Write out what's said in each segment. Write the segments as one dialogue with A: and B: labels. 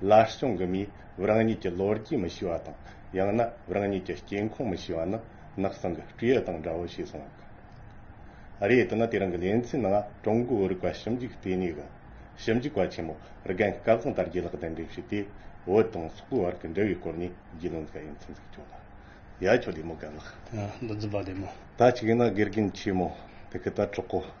A: ལ་སྐྱོང་གི་མིས་རང་ཉིད་ཀྱི་ལོ་རྒྱུས་མི་ཤེས་པ་དང་ཡང་ན་རང་ཉིད་ཀྱི་སྐྱེ་ཁུངས་མི་ཤེས་པ་ནི་ནག་ཟིང་གི་སྤྲེའུ་དང་འདྲ་བོ་བྱས་སོང་བ་ཀི་རེད་དེ་ནི་དེ་རིང་གི་ལེ་ཚན་ནང་ཀྲུང་གོའི་བོད་རིག་པ་ཞིབ་འཇུག་ལྟེ་གནས་ཀྱི་ཞིབ་འཇུག་པ་ཆེན་མོ་རྒན་སྐལ་བཟང་དར་རྒྱས་ལགས་གདན་འདྲེན་བྱས་ཏེ་བོད་དང་སོག་པོའི་བར་གྱི་འབྲེལ་བའི་སྐོར་ནས་རྒྱུས་ལོན་མཛད་ཡོད་ཚུལ་འཛུགས་སྐྱོང་ལ་ཡ་ཁྱོ་ལེ་མོ་དགའ་ལགས། མདོ་འཛིན་པ་ལེ་མོ།
B: ད་ཅིག་ཡིན་ན་དགེ་རྒན་
A: ཆེན་མོ་དེ་གི་ད་གྲོགས་པོ།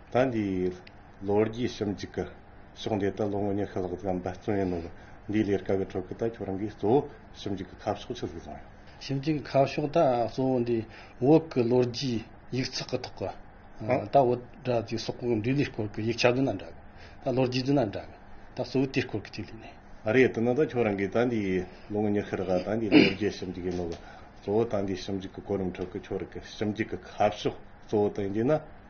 A: ཟླ་འདིའི་ལོ་རྒྱུས་གཤམ་གྱི་ཀི་ཤོག་འདི་དག་ལོ་ངོ་ཉི་ཤུ་ལྷག་ཙམ་འབད་བརྩོན་ཡིན་ནོ། འདིའི་ལས་ཀ་གི་ཁྲོད་ཀི་ད་ཁྱོད་རང་གིས་གཙོ་བོ་ཞིབ་འཇུག་གི་ཁ་ཕྱོགས་ཆི་ཟིག་བཟུང་ཡོད། ཞིབ་འཇུག་གི་ཁ་
B: ཕྱོགས་ད་གཙོ་བོ་འདི་བོད་ཀི་ལོ་རྒྱུས་ཡིག་ཚགས་ཀི་ཐོག་ཀི། ད་བོད་དྲ་ཚིགས་སོགས་ཀི་འབྲི་ལུས་སྐོར་ཀི་ཡིག་ཆ་བདུན་ན་འདྲ་གི། ད་ལོ་རྒྱུས་བདུན་ན་འདྲ་གི། ད་གཙོ་བོ་དེའི་སྐོར་ཀི་ཅིག་ལུས་ནས། རེད་དེ་ནི་ད་ཁྱོད་
A: རང་གིས་ད་འདིའི་ལོ་ངོ་ཉི་ཤུ་རེ་ག་ད་འདིའི་ལོ་རྒྱུས་ཞིབ་འཇུག་ཡིན་ནོ་གི། གཙོ་བོ་ད་འདིའི་ཞིབ་འཇུག་གི་གོ་རིམ་ཁྲོད་ཀི་ཁྱོད་རང་གིས་ཞིབ་འཇུག་གི་ཁ་ཕྱོགས་གཙོ་བོ་དེ་འདི་ན།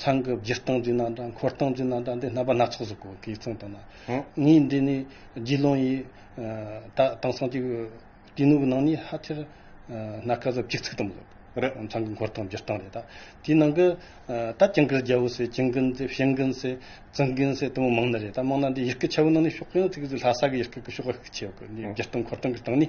B: ཚང་གི་བརྒྱུད་སྟངས་ཀྱི་རྣམ་གྲངས་འཁོར་སྟངས་ཀྱི་རྣམ་གྲངས་འདི་རྣམ་པ་སྣ་ཚོགས་སུ་གོ་གི་མཚོན་ཏོ་ན། ངའི་འདི་ནི་རྗེ་ལུང་ཡི། ད་དེང་སང་གི་དུས་ནུབ་ནང་ནི་ཧ་ཆེར། སྣ་དཀར་ཟབ་གཅིག་ཚིག་དུམ་བུ། ཚང་གི་འཁོར་སྟངས་བརྒྱུད་སྟངས་རེད་ད། དེའི་ནང་གི། ད་ཀྱང་གིར་རྒྱལ་བོ་ཟེར་ཀྱིང་གིན་ཟེར་ཤིང་གིན་ཟེར། ཙིང་གིན་ཟེར་དུམ་བུ་མང་ན་རེད་ད་མང་ན་འདི་ཡི་གེ་ཆེ་བོ་ནང་ནས་ཕྱོགས་ཡོངས་ཚིག་གི་ལྷ་ས་གི་ཡི་གེ་གི་ཕྱོགས་ཁག་ཆེ་བ་གོ་ནི་བརྒྱུད་སྟངས་འཁོར་སྟངས་གི་སྟངས་ནི།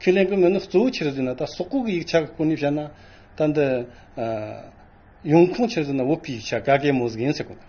B: ཁས་ལེན་དགོས་མིན་ནི་གཙོ་བོའི་ཕྱིར་དེ་ན་ད་སོག་གོ་གི་ཡིག་ཆ་གི་སྐོར་ནས་བཤད་ན། ད་འདི། ཡོང་ཁུངས་ཕྱིར་དེ་ན་འོད་པའི་ཡིག་ཆ་ག་གེ་མོ་ཟིག་ཡིན་སྲིད་དགོས།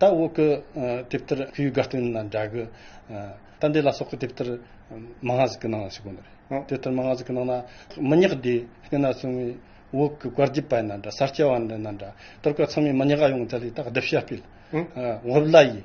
B: ད་འོག་གི་དེབ་ལྟར་ཁུ་ཡུ་ག་སྟོན་ལ་འདྲ་གི། ད་འདི་ལ་སོགས་ཀྱི་དེབ་ལྟར་མ་སྔ་ཟིག་གི་ནང་ལ་ཞིག་གོ། དེབ་ལྟར་མ་སྔ་ཟིག་གི་ནང་ལ་མི་ཉག་དེ་སྐེ་ན་སོང་བའི་འོག་གི་དཀར་རྒྱས་པ་ཡིན་ན་འདྲ་གསར་སྐྱ་བ་ཡིན་ན་འདྲ། དོར་ག་ཚང་མས་མི་ཉག་ག་ཡོང་ཚ་ལས་ད་བསྡུ་བྱ་སྤེལ། བྷབ་ལ་ཡིས་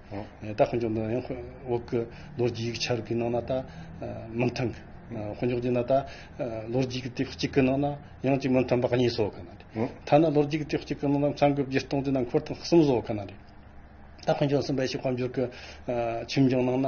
B: ད་དཔོན་ཆུང་དང་ཡང་འོག་གི་ལོ་རྒྱུས་ཡིག་ཆ་རིགས་ཀྱི་ནང་ན་ད་མི་མཐུན། དཔོན་ཆུང་དེ་ན་ད་ལོ་རྒྱུས་ཀྱི་དེབ་གཅིག་གི་ནང་ན་ཡང་གཅིག་མི་མཐུན་པ་གཉིས་བཟོ་གི་ནི་རེད། ཐ་ན་ལོ་རྒྱུས་ཀྱི་དེབ་གཅིག་གི་ནང་ན་མཚང་གི་བརྒྱུད་གཏོང་དེ་ན་འཁོར་ཐེངས་གསུམ་བཟོ་གི་ནི་རེད། ད་དཔོན་ཆུང་གསུམ་པའི་ཕྱི་དཔལ་འབྱོར་གྱི་ཁྱིམ་སྦྱོང་ནང་ན།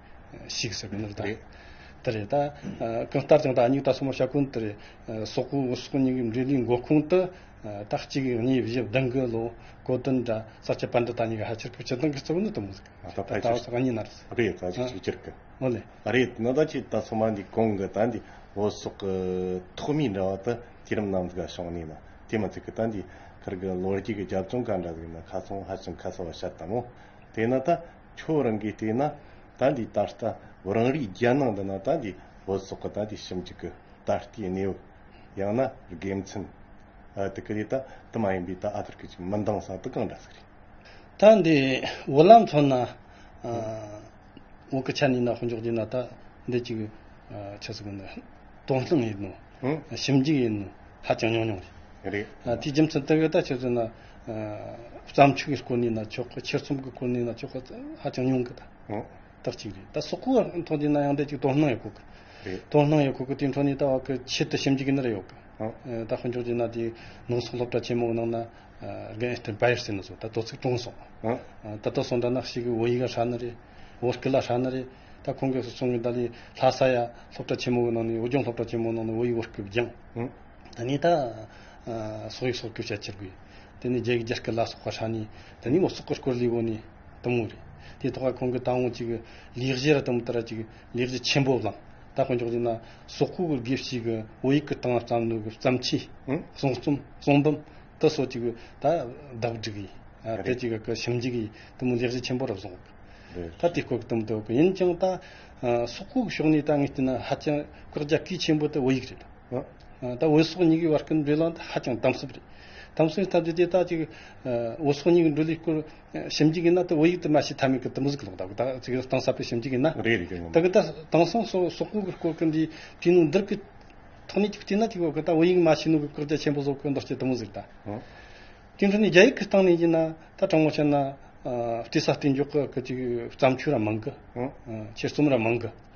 B: ཞིག་ཟེར་བའི་དོན་རེད། དེ་རེད་ད། གང་ལྟར་ཀྱང་ད་སྙིགས་ད་སོ་མོ་ཤ་ཀུན་དེ་རེད། སོག་པོའི་འུ་སོག་གཉིས་ཀའི་འབྲེལ་བའི་མགོ་ཁུངས་དུ། ད་གཅིག་གིས་གཉིས་བཞི་བདུན་གྱི་ལོ་གོ་དོན་འདྲ་ས་ཁྱད་པར་འདི་ད་གཉིས་ཀ་ཧ་ཆེར་ཕུ་ཆེར་མདང་གི་རྩེ་བོ་ནི་དུ་མོ་ཟེར། ད་ད་ཕལ་ཆེར། གཉིས་ན་རེ་ཟེར། རེད་ད་ཅིག་ཅིག་ཅིག་གི།
A: ཨོ་ལེ། ད་རེད་
B: ནི་ད་ཅིག་
A: ད་སོ་མ་འདིའི་གོང་གི་ད་འདི་འུ་སོག་གི་ཐོག་མའི་འདྲ་བ་དུ་དུས་རིམ་ནམ་ཟིག་ག་བྱུང་ནས་ན་དེ་མ་ཚིག་གི་ད་འདིའི་ཁར་གི་ལོ་རྒྱུས་ཀྱི་རྒྱབ་ལྗོངས་ག་འདྲ་ཟིག་ན་ཁ་ཚོན་ཧ་ཅང་ཁ་གསལ་བ་ཤར་ལྟ་མོ། དེས་ན་ད། ཁྱོད་རང་གིས་བལྟས་ན་ད་འདི་ད་ལྟ་རང་རེའི་རྒྱལ་ནང་འདི་ན་ད་འདི་བོད་སོག་གི་ད་འདི་ཞིབ་འཇུག་གི་ད་ལྟའི་གནས་བབ། ཡང་ན་དགེ་མཚན། དེ་ག་ལས་ད་དུ་མ་ཡིན་པའི་ད་ཨ་ཐུར་ཁུལ་གྱི་མི་འདང་ས་དུ་གང་འདྲ་ཟིག་རེད། ད་འདི་
B: འོ་ལམ་ཚོ་ན་འོ་ཀི་ཆ་ནས་ན་ཧོ་འཇོག་རྒྱུ་ན་ད་འདི་ཅིག་ཆ་ཟིག་གི་ནི་དོག་སྣང་ཡིན་ནོ། ཞིབ་འཇུག་ཡིན་ནོ་ཧ་ཅང་ཉུང་ཉུང་རེད། རེད། དེའི་
A: རྒྱུ་མཚན་དེ་ག་ད་
B: ཁྱོད་ཚོ་ན། བརྩམས་ཆོས་ཀྱི་སྐོར་ནས་ན་ཆོག་གི་ཕྱིར་ཚོམ་གྱི་སྐོར་ནས་ན་ཆོག་གི་ཧ་ཅང་ཉུང་གི་ད་རྟགས་གཅིག་རེད་ད་སོག་གོ་བ་ཐོག་དེ་ན་ཡང་དེ་གཅིག་དོ་སྣང་ཡོད་གོ་གི་དོ་སྣང་ཡོད་གོ་གི་དེ་འཕྲོ་ནས་ད་བར་གི་ཆེད་དུ་ཞིབ་འཇུག་གི་ནི་རེད་ཡོད་གི་ད་དཔོན་ཆུང་དེ་ན་དེ་ནང་སོག་སློབ་གྲྭ་ཆེན་མོ་ནང་ན་རྒན་ཨེ་སྟེར་བཱ་ཡེར་སེ་ནི་སོག་ད་དོ་ཚིགས་དྲུང་སོག་ད་དོ་སོག་འདྲ་ན་ཞིག་གི་བོ་ཡིག་ཨ་ཧྲ་ནི་རེད་བོ་སྐི་ལ་ཧྲ་ནི་རེད་ད་ཁོང་གིས་སོ་སོང་གི་ད་ལི་ལྷ་ས་ཡ་སློབ་གྲྭ་ཆེན་མོ་གི་ནང་ནས་བོད་ལྗོངས་སློབ་གྲྭ་ཆེན་མོ་ནང་ནས་བོ་ཡིག་བོ་སྐི་བགྱིངས། དེ་ནས་ད། སོག་ཡིག་སོགས་བསྒྱུར་བྱ་ཅི་དགོས། དེ་ནས་རྒྱའི་རྒྱ་སྐད་ལ་སོགས་པ་ཧྲ་ནི། དེ་ནས་མོ་སོག་གི་སྐོར་ལས་བོ་ནི། དུམ་བུ་རེད། དེའི་ཐོག་ཁ་ཁོང་གིས་ད་འོང་ཅིག། ལེགས་བཞི་ར་དུམ་བུ་དར་ཅིག། ལེགས་བཞི་ཆེན་པོ་བླངས། ད་དཔེ་འཇོག་བྱས་ན། སོག་ཁུག་གི་དགེ་བཤེས་ཀྱི་བོད་ཡིག་གི་སྟེང་ལ་རྩམ་ནུ་གི་རྩམ་ཆས། གསུང་རྩོམ། གསུང་འབུམ། དུ་སོགས་ཅིག་ད། བདག་བསྒྲིགས་ཡིན། དེ་ཅིག་གི་ཞིབ་འཇུག་གིས་དུམ་བུ་ལེགས་བཞི་ཆེན་པོ་རུ་བཟུང། ད་དེ་སྐོར་གྱི་དུམ་བུ་དུ་གི་ཡིན་ཅིང་ད། སོག་ཁུག་གི་ཕྱོགས་ནས་ད་ངས་བལྟས་ན་ཧ་ཅང་བཀག་རྒྱ་སྐས་ཆེན་པོ་དེ་བོད་ཡིག་རེད། ད་འོད་སོགས་གཉིས་ཀྱི་བར་གྱི་འབྲེལ་ལམ་དེ་ཧ་ཅང་དམ་ཟབ་རེད། དམ་ཟབ་ཡིན་སྟབས་དེ་དེ་དག་ཅིག་འོད་སོགས་གཉིས་ཀྱི་འགྲོས་ལས་སྐུར་ཞིབ་འཇུག་གིན་ན་དེ་འོད་ཡིག་དུ་མ་ཞིག་ཐ་མི་གི་དུམ་བུ་ཟིག་ལོག་ད་གི་ད་ཅིག་གཏིང་ཟབ་པའི་ཞིབ་འཇུག་ཡིན་ན། རེད་རེད་ཅེས་ངོ་མ། ད་གི་ད་དེང་སང་སོག་སོག་པོ་གི་སྐོར་གི་འདིའི་དུས་ནུས་འདིར་གི་ཐོག་ནས་ཅིག་བལྟས་ན་ཅིག་འོད་གི་ད་འོད་ཡིག་མ་ཞིག་ནུས་གི་བཀག་རྒྱ་ཆེན་པོ་བཟོ་གི་འདུག་ཅེས་དུམ་བུ་ཟིག་ད། དེ་འཕྲོས་ནས་རྒྱ་ཡིག་གི་སྟེང་ནས་ཡིན་ན་ད་དྲང་མོ་བཤད་ན་བལྟས་ས་བལྟས་འཇོག་གི་གི་ཅིག་བརྩམས་ཆོས་ར་མང་གི། འཆད་རྩོམ་ར་མང་གི།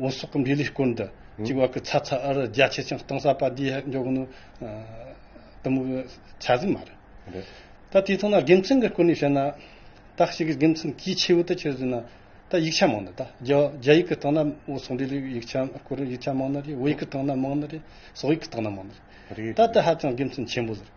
B: བོད་སོག་གི་འབྲེལ་ལུས་སྐོར་འདི་གཅིག་བར་གྱི་ཚ་ཚ་འུར་འུར་རྒྱ་ཆེ་ཆུང་གཏོང་ས་པ་འདིའི་མགྱོགས་གནོན་དུ་མུ་གི་ཆ་ཟིག་མ་རེད། ད་དེ་ཐོག་ན་དགེ་མཚན་གྱི་སྐོར་ནས་བཤད་ན། ད་ཤི་གི་དགེ་མཚན་གྱིས་ཆེ་བོ་དུ་ཆེ་ཟིན་ན་ད་ཡིག་ཆ་མང་ན་ད་རྒྱ་ཡིག་གི་ཐོག་ན་བོད་སོག་འབྲེལ་ལུས་ཡིག་ཆ་སྐོར་ཡིག་ཆ་མང་ན་རེད་བོད་ཡིག་གི་ཐོག་ན་མང་ན་རེད་སོག་ཡིག་གི་ཐོག་ན་མང་ན་རེད། ད་དེ་ཧ་ཅང་དགེ་མཚན་ཆེན་པོ་ཟེར།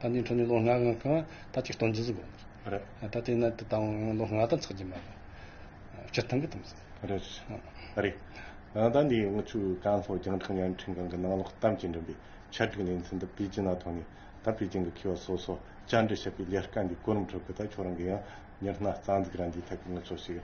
B: ད་ནི་འཕྲོས་ནས་ལོ་ལྔ་གང་ཁང་ད་ཅིག་སྟོང་ཇི་ཟིག་དགོས་ན་རེད་ད་
A: དེ་ན་དེ་
B: དང་ལོ་ལྔ་དང་ཚགས་ཀྱི་མ་རེད་སྤྱིར་བཏང་གི་དམ་ཚིག་
A: རེད་རེད་ད་ནི་ང་ཚོའི་ཀན་ལྷོ་རྒྱང་ཐག་བརྙན་འཕྲིན་ཁང་གི་ནང་ལོག་གཏམ་གྱི་འགྲིམ་པའི་ཆ་སྒྲིག་ལས་མཚན་ད་པེ་ཅིན་ན་ཐོན་ནས་ད་པེ་ཅིན་གྱི་མཁས་པ་སོ་སོ་བཅར་འདྲི་བྱེད་པའི་ལས་ཀ་འདིའི་གོ་རིམ་ཁྲོད་གི་ད་ཁྱོད་རང་གི་ཡང་མྱུར་སྣ་རྩ་འཛུགས་རང་གིས་ཐད་ཀའི་ངོ་སོ་ཞིག་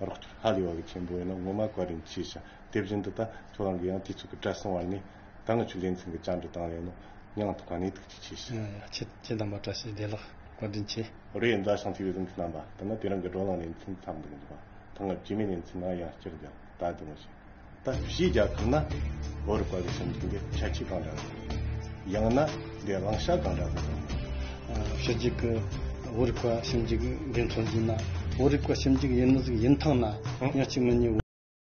A: རོགས་སྐྱོར་ཧ་ལས་བ་གི་ཆེན་པོ་ཡིན་ན་ངོ་མ་གོ་རིམ་ཤེས་ཤིང་དེ་བཞིན་དུ་ད་ཁྱོད་རང་གི་ཡང་དུས་ཚོད་ཀྱི་བྲེལ་སོང་བ་ནི། ད་ནི་ཆུ་ལེན་ཚང་གི་བཅར་འདྲི་བཏང་ཡོད་ནོ། སྙང་ཐོག་ག་ནས་ཐུགས་རྗེ་ཆེ་ཞེས། ཁྱེད་ཀྱི་དམ་པ་བཀྲ་
B: ཤིས་བདེ་ལགས་བཀའ་དྲིན་ཆེ། རེད་མཛའ་ཞང་
A: ཚིག་རིང་གི་རྣམ་པ་དེ་ནི་དེ་རང་གི་བགྲོ་གླེང་ལས་མཚོན་ཐབས་མི་འདུག་འདུག་པ་ད་སྔར་བྱས་མེད་ནས་མཚོན་ན་ཡང་བསྐྱར་རྒྱག་ད་དེ་མ་བྱས་ད་བྱས་རྒྱག་ཐུབ་ན་བོད་རུ་བཀའ་བའི་སེམས་ཁྲིད་འདི་ཁྱད་ཆོས་གང་འདྲ་ཡོད་རེད། ཡང་ན་འདི་བླང་བྱ་གང་འདྲ་ཡོད་རེད། ཞུ་གཅིག་གི་བོད་རིག་པ་ཞིབ་འཇུག་འགན་འཁྲོལ་ཡིན་ན་བོད་རིག་པ་ཞིབ་འཇུག་ཡིན་མི་ཟིག་ཡིན་ཐང་ན་ཡང་གཅིག་མི་གཉིས།